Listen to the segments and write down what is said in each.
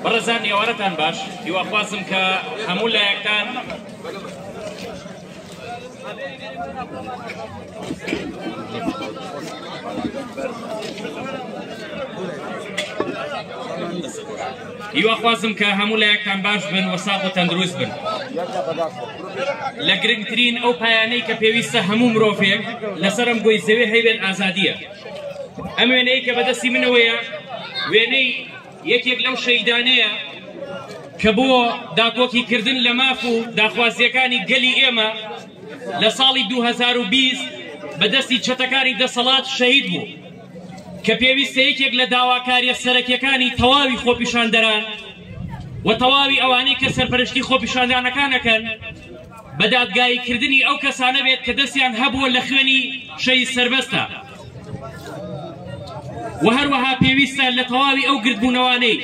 بەڕێزان ئێوارەتان باش هیواخوازم کە هەموو لایەکتان هیواخوازم کە هەموو لایەکتان باش بن و ساغ و تەندروست بن لە گرنگترین ئەو پایانەی کە پێویستە هەموو مرۆڤێک لەسەرم گوی زەوێ هەیبێت ئازادیە ئەم وێنەیە کە بەدەستی منەوەیە وێنەی یەکێک لەو شەیدانەیە کە بۆ داکۆکی کردن لە ماف و داخوازیەکانی گەلی ئێمە لە ساڵی 2020 بەدەستی چەتەکانی دەسەڵات شەهید بوو کە پێویستە یەکێک لە داواکاریە سەرەکیەکانی تەواوی خۆپیشاندەران و تەواوی ئەوانەی کە سەرپەرشتی خۆپیشاندانەکانەکەن بە دادگایی کردنی ئەو کەسانە بێت کە دەستیان هەبووە لە خوێنی شەهید سەربەستە و هەروەها پێویستە لە تەواوی ئەو گردبوونەوانەی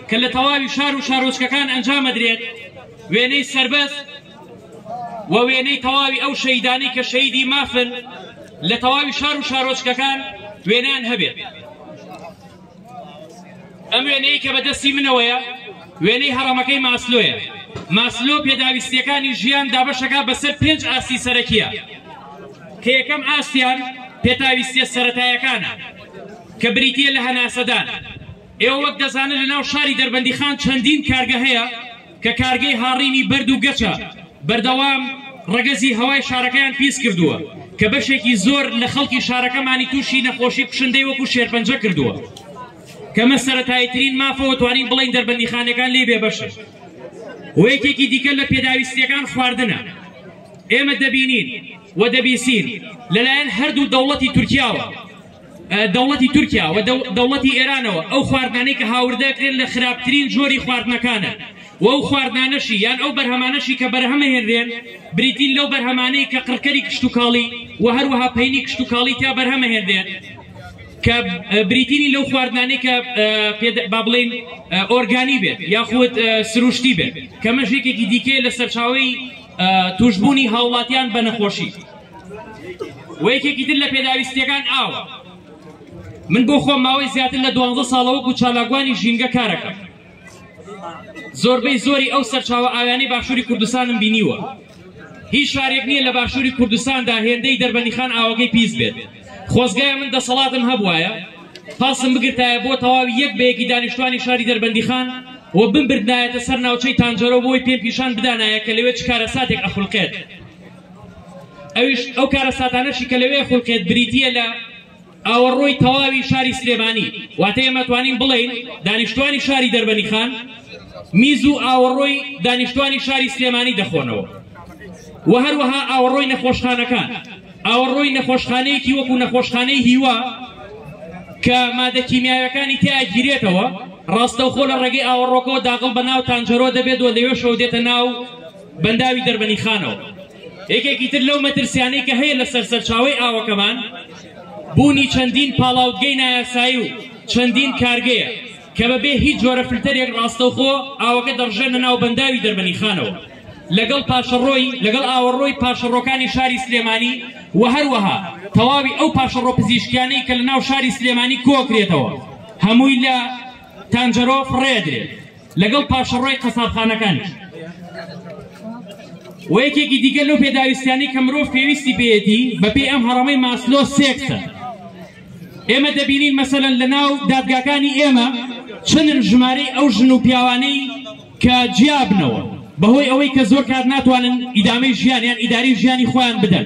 کە لە تەواوی شار و شارۆچکەکان ئەنجامەدرێت وێنەی سربەست و وێنەی تەواوی ئەو شەیدانی کە شەیدی مافن لە تەواوی شار و شارۆچکەکان وێنان هەبێت. ئەم وێنەیە کە بەدەستی منەوەیە وێنەی هەڕەمەکەی ماسلۆیە ماسلۆ پێداویستیەکانی ژیان دابەشەکە بەسەر پێنج ئاستی سەرەکیە کە یەکەم ئاستیان پێتاویستە سەتایەکانە کە بریتە لە هەناسەدان ئێوە وەک دەزانن لە ناو شاری دەربەندی خان چەندین کارگە هەیە کە کارگەی هاڕینی بەرد و گەچە بەردەوام ڕەگەزی هەوای شارەکەیان پیس کردووە، کە بەشێکی زۆر لە خەڵکی شارەکەمانی تووشی نەخۆشی کوشندەی وەکو شێرپەنجە کردووە، کە مە سەرەتاییترین مافە و توانین بڵێین دەربەندیخانەکان لێی بێبەشن و یەکێکی دیکە لە پێداویستییەکان خواردنە. ئێمە دەبینین و دەبیسین لەلایەن هەردوو دەوڵەتی تورکیاوە، دەوڵەتی تورکیا و دەوڵەتی ئێرانەوە ئەو خواردنانەی کە هاوردەکرێن لە خراپترین جۆری خواردنەکانە و ئەو خواردنانەشی یان ئەو بەرهەمانەشی کە بەرهەمە هێنرێن بریتین لەو بەرهەمانەی کە قڕکەری کشتتوکاڵی و هەروەها پینی کشتتوکاڵی تا بەرهەمە هێنرێن کە بریتینی لەو خواردنانەی کە با بڵین ئۆرگانی بێت یاخود سروشتی بێت کەمەژێکێکی دیکەیە لە سەرچاوی توشببوونی هاوڵاتیان بە نەخۆشی و یەکێکی تر لە پێداویستیەکان ئاوە من بۆ خۆم ماوەی زیاتر لە دوانزە ساڵەوەکو چالاکوانی ژینگە کارەکەم زۆربەی زۆری ئەو سەرچاوە ئاویانی باشووری کوردستانم بینیوە هیچ شارێک نییە لە باشووری کوردستاندا هێندەی دەربەنیخان ئاوەکەی پیس بێت خۆزگایە من دەسەڵاتم هەبواە پاسم بگرتایە بۆ تەواوی یەک بەیەکی دانیشتوانی شاری دەربەندیخان و بمبردایەتە سەر ناوچەی تانجەرۆ بۆی پێم پیشان بدانایە کە لەوێ چ کارە ساتێک ئەخولقێت ئەویش ئەو کارەساتانەشی کە لەوێ خولقێت بریتیە لە ئاوەڕۆی تەواوی شاری سلێمانی واتە ئێمە توانین بڵێین دانیشتوانی شاری دەربەنی خان میز و ئاوەڕۆی دانیشتوانی شاری سلێمانی دەخۆنەوە و هەروەها ئاوەڕۆی نەخۆشخانەکان ئاوەڕۆی نەخۆشخانەیەکی وەکو نەخۆشخانەی هیوا کە مادە کیمیاوەکانی تیاگیرێتەوە ڕاستەوخۆ لە ڕێگەی ئاوەڕۆکەوە داغڵ بە ناو تانجەرۆ دەبێت و لەوێ شەو دێتە ناو بەنداوی دەربەنیخانەوە یەکێکی تر لەو مەترسیانەی کە هەیە لەسەر سەرچاوی ئاوەکەمان بوونی چەندین پاڵاوتگەی نایاسایی و چەندین کارگەیە کە بەبێ هیچ جۆرە فلتەرێک ڕاستەوخۆ ئاوەکە دەڕژێنە ناو بەنداوی دەربەنیخانەوە لەگەڵ پاشەڕۆی لەگەڵ ئاوەڕۆی پاشەڕۆکانی شاری سلێمانی و هەروەها تەواوی ئەو پاشەڕۆ پزیشکیانەی کە لە ناو شاری سلێمانی کۆکرێتەوە هەمووی لە تانجەرۆ فڕێدرێت لەگەڵ پاشەڕۆی قەسابخانەکانیش و یەکێکی دیگە لەو پێداویستیانی کە مرۆڤ پێویستی پێیەتی بەپێی ئەم هەڕەمەی ماسلۆ سێکسە ئێمە دەبینین مەسەن لە ناو دادگاکانی ئێمە چەندن ژمارەی ئەو ژن و پیاوانەی کە جیابنەوە بەهۆی ئەوەی کە زۆر کات ناتوانن ئیدامەی ژیانیان ئیداری ژیانی خۆیان بدەن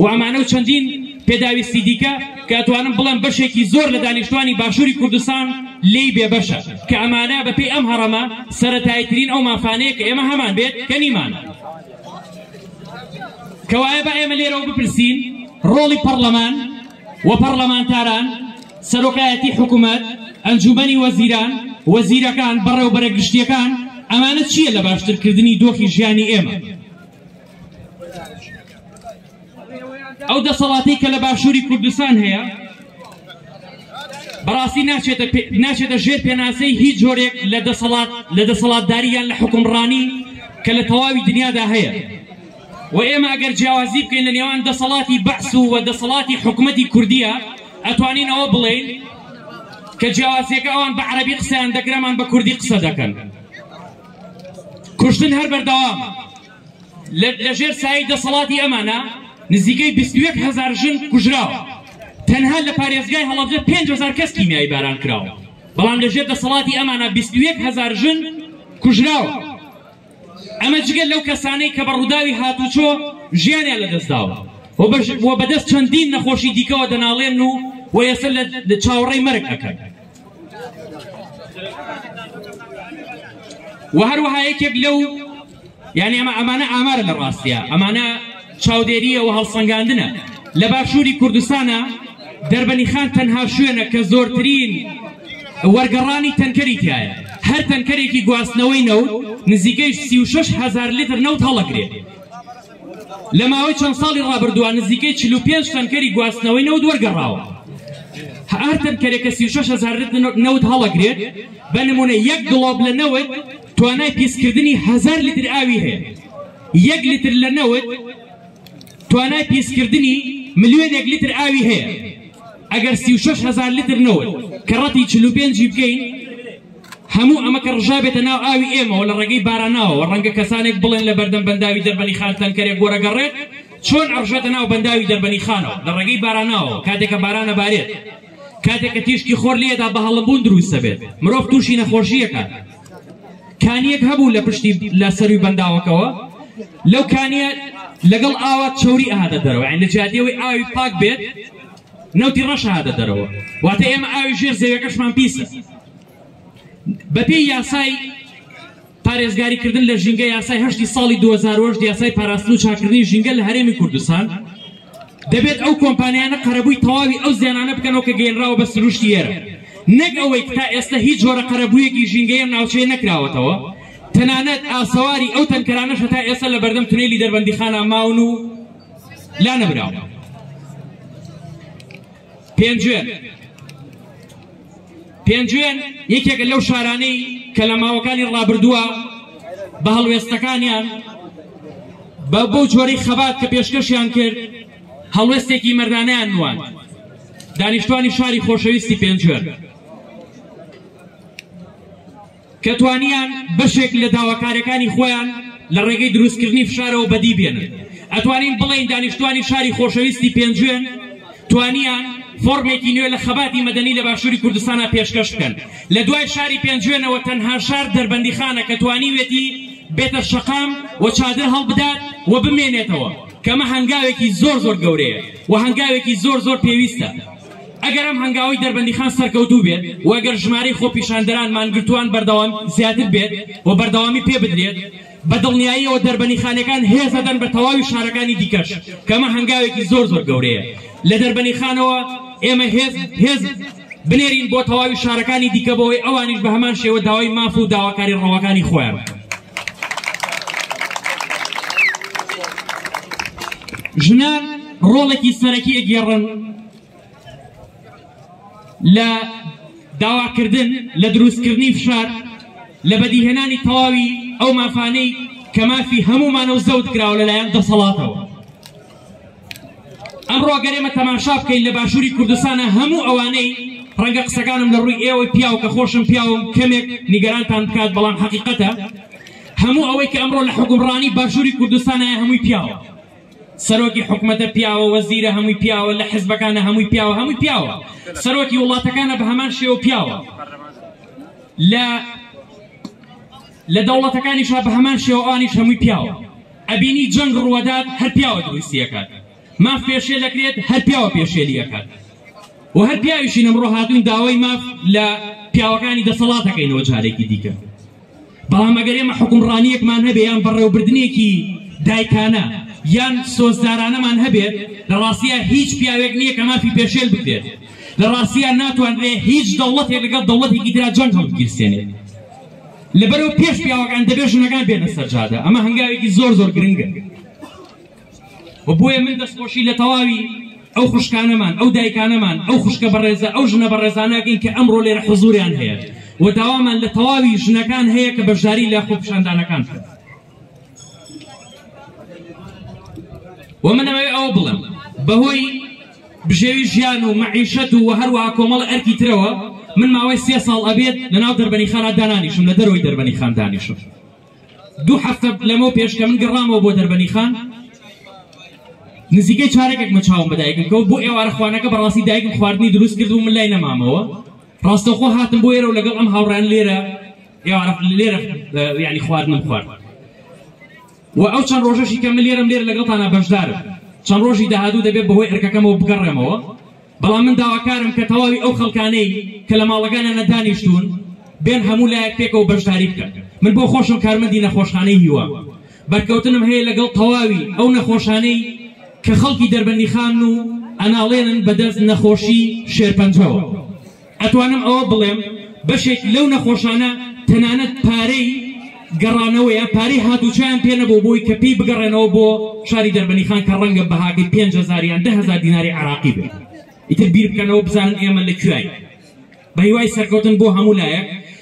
و ئەمانە و چەندین پێداویستی دیکە کە ئەتوانم بڵێم بەشێکی زۆر لە دانیشتوانی باشووری کوردستان لێی بێبەشە کە ئەمانە بەپێی ئەم هەڕەمە سەتایترین ئەو مافانەیە کە ئێمە هەمان بێت کە نیمان کەوایە بە ئێمە لێرەوە بپرسین ڕۆڵی پەرلەمان و پەرلەمانتاران سەرۆکایەتی حکوومەت ئەنجومەنی وەزیران وەزیرەکان بەڕێوبەرە گشتیەکان ئەمانە چییە لە باشترکردنی دۆخی ژیانی ئێمە ئەو دەسەڵاتی کە لە باشووری کوردستان هەیە بەڕاستی ناچێتە ناچێتە ژێر پێناسەی هیچ جۆرێک لە دەسەڵات لە دەسەڵاتداری یان لە حکومڕانی کە لە تەواوی دنیادا هەیە و ئێمە ئەگەر جیاوازی بکەین لە نێوان دەسەڵاتی بەعس و وە دەسەڵاتی حکوومەتی کوردیە ئەتوانین ئەوە بڵێین کە جیاوازیەکە ئەوان بە عربی قسەیان دەگرەمان بە کوردی قسە دەکەن کوشتن هەر بەردەوامە لە ژێر سایەی دەسەڵاتی ئەمانە نزیکەی 21 هەزار ژن کوژراوە تەنها لە پارێزگای هەڵەبجە 5 هزار کەس کیمیایی باران کراوە بەڵام لە ژێر دەسەڵاتی ئەمانە 21 هزار ژن کوژراوە ئەمە جگە لەو کەسانەی کە بە ڕووداوی هاتوچۆ ژیانیان لەدەستداوە و بەدەست چەندین نەخۆشی دیکەوە دەناڵێن و و یەسە لە چاوەڕێی مەرگ ئەکەن و هەروەها یەکێک لەو یعنی ئەمە ئەمانە ئامارە لە ڕاستە ئەمانە چاودێریە و هەڵسەنگاندنە لە باشووری کوردستانە دەربەنی خان تەنها شوێنە کە زۆرترین وەرگەڕانی تەنکەری تایە هەر تەنکەرێکی گواستنەوەی نەوت نزیکەی هزار لتر نەوت هەڵەگرێت لە ماوەی چەند ساڵی ڕابردووە نزیکەی 45 تەنکەری گواستنەوەی نەوت وەرگەڕاوە هەر تەنکەرێکە هزار لتر نەوت هەڵەگرێت بە نمونە یەک گڵۆب لە نەوت توانای پیسکردنی هزار لتر ئاوی هەیە یەک لتر لە نەوت توانای پیسکردنی ملیۆنێک لتر ئاوی هەیە ئەگەر سی و شش هزار لتر نەوت کە ڕەتی چل و پێنجی بکەین هەموو ئەمە کە ڕژابێتە ناو ئاوی ئێمەەوە لە ڕێگەی باراناوەوە ڕەنگە کەسانێک بڵێن لە بەردەم بەنداوی دەربەنی خانتان کەرێک گۆرەگەڕێت چۆن ئەڕژێتە ناو بەنداوی دەربەنی خانەوە لە ڕێگەی باراناوە کاتێکە بارانە بارێت کاتێکە تیشکی خۆر لێدا بە هەڵمبوون دروستە بێت مرۆڤ تووشی نەخۆشیەکە کانیەک هەبوو لە پشتی لە سەروی بەنداوەکەەوە لەو کانیە لەگەڵ ئاوا چوری ئاهاتە دەرەوە لە جادیەوەی ئاوی پاک بێت نەوتی ڕەشهاتە دەرەوە واتە ئێمە ئاوی ژێر زەوەکەشمان پیسە بەپێی یاسای پارێزگاریکردن لە ژینگە یاسای هەشتی ساڵی 2010 یاسای پاراستن و چاکردنی ژینگە لە هەرێمی کوردستان دەبێت ئەو کۆمپانیانە قەرەبووی تەواوی ئەو زیانانە بکەنەوە کە گەینراوە بە سروشتی ئێرە نەک ئەوەی کە تا ئێستا هیچ جۆرە قەرەبوویەکی ژینگەی ئەم ناوچەیە نەکراوەتەوە تەنانەت ئاسەواری ئەو تەنکەرانەشە تا ئێستا لە بەردەم تونێلی دەربەندیخانا ماون و لا نەبراوە پێنجوێن پێنجوێن یەکێکە لەو شارانەی کە لە ماوەکانی ڕابردووە بە هەڵوێستەکانیان بە بۆ جۆری خەبات کە پێشکەشیان کرد هەڵوێستێکی مەردانیان نوان دانیشتوانی شاری خۆشەویستی پێنجوێن کە توانیان بەشێک لە داواکاریەکانی خۆیان لە ڕێگەی دروستکردنی فشارەوە بەدی بێنن ئەتوانین بڵێین دانیشتوانی شاری خۆشەویستی پێنجوێن توانیان فۆرمێکی نوێ لە خەباتی مەدەنی لە باشووری کوردستانە پێشکەش بکەن لە دوای شاری پێنجوێنەوە تەنها شار دەربەندیخانە کە توانیوێتی بێتە شەقام و چادر هەڵبدات و بمێنێتەوە کەمە هەنگاوێکی زۆر زۆر گەورەیە و هەنگاوێکی زۆر زۆر پێویستە ئەگەر ئەم هەنگاوەی دەربەندیخان سەرکەوتوو بێت و ئەگەر ژمارەی خۆپیشاندەران مانگرتووان بەردەوام زیاتر بێت و بەردەوامی پێ بدرێت بە دڵنیاییەوە دەربەنیخانەکان هێز دەدەن بە تەواوی شارەکانی دیکەش کە ئەمە هەنگاوێکی زۆر زۆر گەورەیە لە دەربەنیخانەوە ئێمە هێز هێز بنێرین بۆ تەواوی شارەکانی دیکە بەوەی ئەوانیش بە هەمان شێوە داوای ماف و داواکاری ڕەواکانی خۆیان ژنان ڕۆڵێکی سەرەکی ئەگێڕن لە داواکردن لە دروستکردنی فشار لە بەدیهێنانی تەواوی ئەو مافانەی کە مافی هەمومانە و زەوت کراوە لەلایەن دەسەڵاتەوە ئەمڕۆ گەرێمە تەماشا بکەین لە باشووری کوردستانە هەموو ئەوانەی ڕەنگە قسەکانم لە ڕووی ئێوە پیاو کە خۆشم پیاوم کەمێک نیگەرانتان بکات بەڵام حقیقەتە هەموو ئەوەی کە ئەمڕۆ لە حکومڕانی باشووری کوردستانە هەمووی پیاوە سەرۆکی حکومەتە پیاوە وەزیرە هەمووی پیاوە لە حزبەکانە هەمووی پیاوە هەمووی پیاوە سەرۆکی وڵاتەکانە بە هەمان شێوە پیاوە لە لە دەوڵەتەکانیشا بە هەمان شێوانیش هەمووی پیاوە ئەبینی جەنگ ڕوەدات هەر پیاوە دروستیەکات ماف پێشێ دەکرێت هەر پیاوە پێشێلیەکات و هەر پیاویشی نەمڕۆ هاتوین داوای ماف لە پیاوەکانی دەسەڵاتەکەینەوە جارێکی دیکە بەڵام ئەگەر ئێمە حکومڕانیەکمان هەبێ یان بەڕێوبردنێکی دایکانە یان سۆزدارانەمان هەبێت لە ڕاستیە هیچ پیاوێک نییە کە مافی پێشێل بکرێت لە ڕاستیان ناتوانرێ هیچ دەوڵەتێک لەگەڵ دەوڵەتێکی درا جەنگ هەڵگیرسێنێت لەبەرەوە پێش پیاوەکان دەبێژنەکان بێنە سەرجادە ئەمە هەنگاوێکی زۆر زۆر گرنگە و بۆیە من دەستخۆشی لە تەواوی ئەو خوشکانەمان ئەو دایکانەمان ئەو خوشکە بەڕێزە ئەو ژنە بەڕێزانەکەین کە ئەمڕۆ لێرە حزوریان هەیە و داوامان لە تەواوی ژنەکان هەیە کە بەشداری لە خۆپشاندانەکان و منەوەی ئەو بڵم بەهۆی بژێوی ژیان و مەعیشەت و هەروەها کۆمەڵ ئەرکی ترەوە من ماوەی سێ ساڵ ئەبێت لە ناو دەربەنی خانە دانانیشم لە دەرەوەی دەربەنی خاندانیشم دوو هەفتە لەمەو پێش کە من گەڕامەوە بۆ دەربەنی خان نزیکەی چارەکێک مە چاوم بە دایکم کەوت بۆ ئێوارە خوانەکە بەڕاستی دایکم خواردنی دروست کرد و من لای نەمامەوە ڕاستەخۆ هاتم بۆ ئێرە و لەگەڵ ئەم هاوڕان لێرە ئێوارە لێرە یعنی خواردنم خوارد و ئەو چەند ڕۆژەشی کە من لێرەم لێرە لەگەڵتانە بەشدارم چەند ڕۆژی داهاتوو دەبێت بەهۆی ئەرکەکەمەوە بگەڕێمەوە بەڵام من داواکارم کە تەواوی ئەو خەڵکانەی کە لە ماڵەکانیانە دانیشتوون بێن هەموو لایەک پێکەوە بەشداری بکەن من بۆ خۆشم کارمەندی نەخۆشخانەی هیوا بەرکەوتنم هەیە لەگەڵ تەواوی ئەو نەخۆشانەی کە خەڵکی دەربەندیخان و ئەناڵێنن بەدەست نەخۆشی شێرپەنجەوە ئەتوانم ئەوە بڵێم بەشێک لەو نەخۆشانە تەنانەت پارەی گەڕانەوە یا پارەی هاتوچیان پێ نەبوو بۆی کە پێی بگەڕێنەوە بۆ شاری دەربەنیخان کە ڕەنگە بەهاکەی پێنج هەزار یان دە هەزار دیناری عێراقی بێت ئیتر بیر بکەنەوە بزانن ئێمە لە کوێین بە هیوای سەرکەوتن بۆ هەموو لایەک